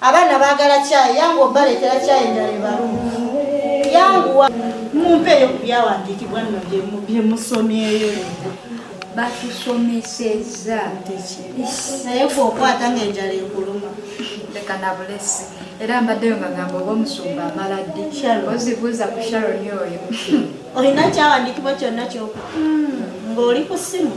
abaana baagala kyayi yangu obaleetera kyayi endala ebalumu yanguwa mumpeeyo ku byawandiikibwa nno byemusomyeyo batusomeseza naye gwe okwata ngaenjala ekuluma leka nabulesi era mbaddeyo nga gamba oba omusumba amala ddi ozibuuza ku sharoni oyo olina kyawandiikibwa kyonna kyoku hmm. ng'oli ku ssimu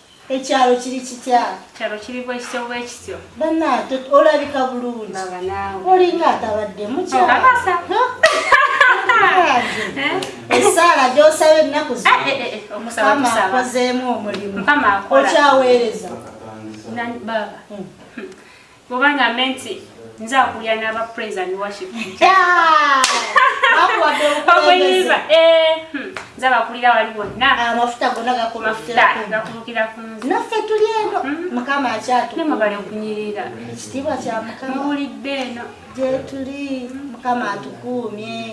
Ekyalo kiri kitya? Ekyalo kiri bwekityo bwekityo. Bannange olabika bulungi. Baba naawe. Olinga atabadde mukya. Obasa. Eh? Esaala gy'osaba ennaku zino. Eh, eh, eh, eh omusaba kusaba. Mukama akozeemu omulimu. Mukama akola. Okyaweereza. Nani baba? Hmm. Bwoba nga menti nze akulira n'aba praise and worship okuyimba eh, hmm. nze abakulira wali wonna ah, amafuta gonna gakulukira ku nze naffe tuli eno hmm. mukama akyatunemubali okunyirira ekitiibwa kya mukama muwulidde eno gyetuli mukama atukuumye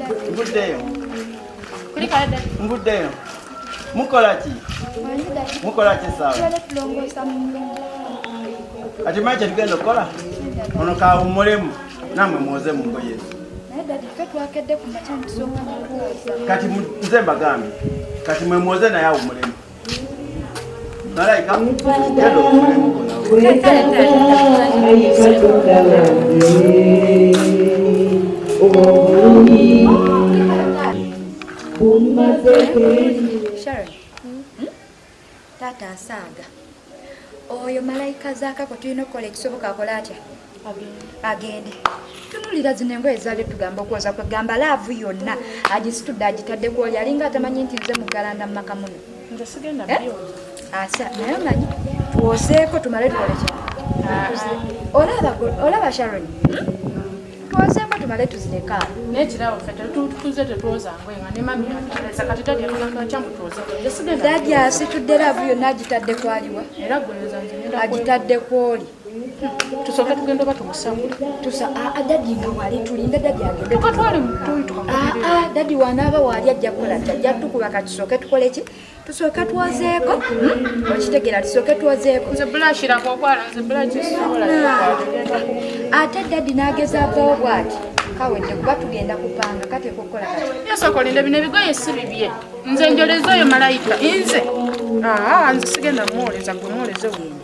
Mvuddeyo. Mvuddeyo. Mukola ki? Mukola ki sawa? Ati manje tugenda okukola? Ono kawummulemu namwe muwoze mu ngoye ezo. Kati nze mbagambye kati mwe muwoze naye awummulemu. Tata asaaga oyo malayika zakako tulina okukola ekisoboka akola atya agende tunulira zino engoye zali tugamba okwoza kwegamba laavu yonna agisitudde agitadde kwoli alinga atamanyi nti nze mugalanda mu maka muno eh? asa naye omanyi twoseeko tumale twolekya ah, ah. olaba sharon twoseeko tumale tuzireka dadi asitudde laavu yonna agitadde kwaliwa agitadde kwoli tusooke tugenda oba tumusamu tusa ah, ah, dadi nga wali tulinda dadi agendetukatwale ah, dadi wanaaba waali ajja kukola ti ajja tukuba ka tusooke tukole ki tusooke twozeeko hmm? okitegera tusooke twozeeko ate dadi n'ageza avawo bwati kawedde kuba tugenda kupanga kateeka okukola kayasokolinde bino ebigoye si bibye nze njoleza oyo malayika nze nze sigenda muwoleza gwe muwoleze wene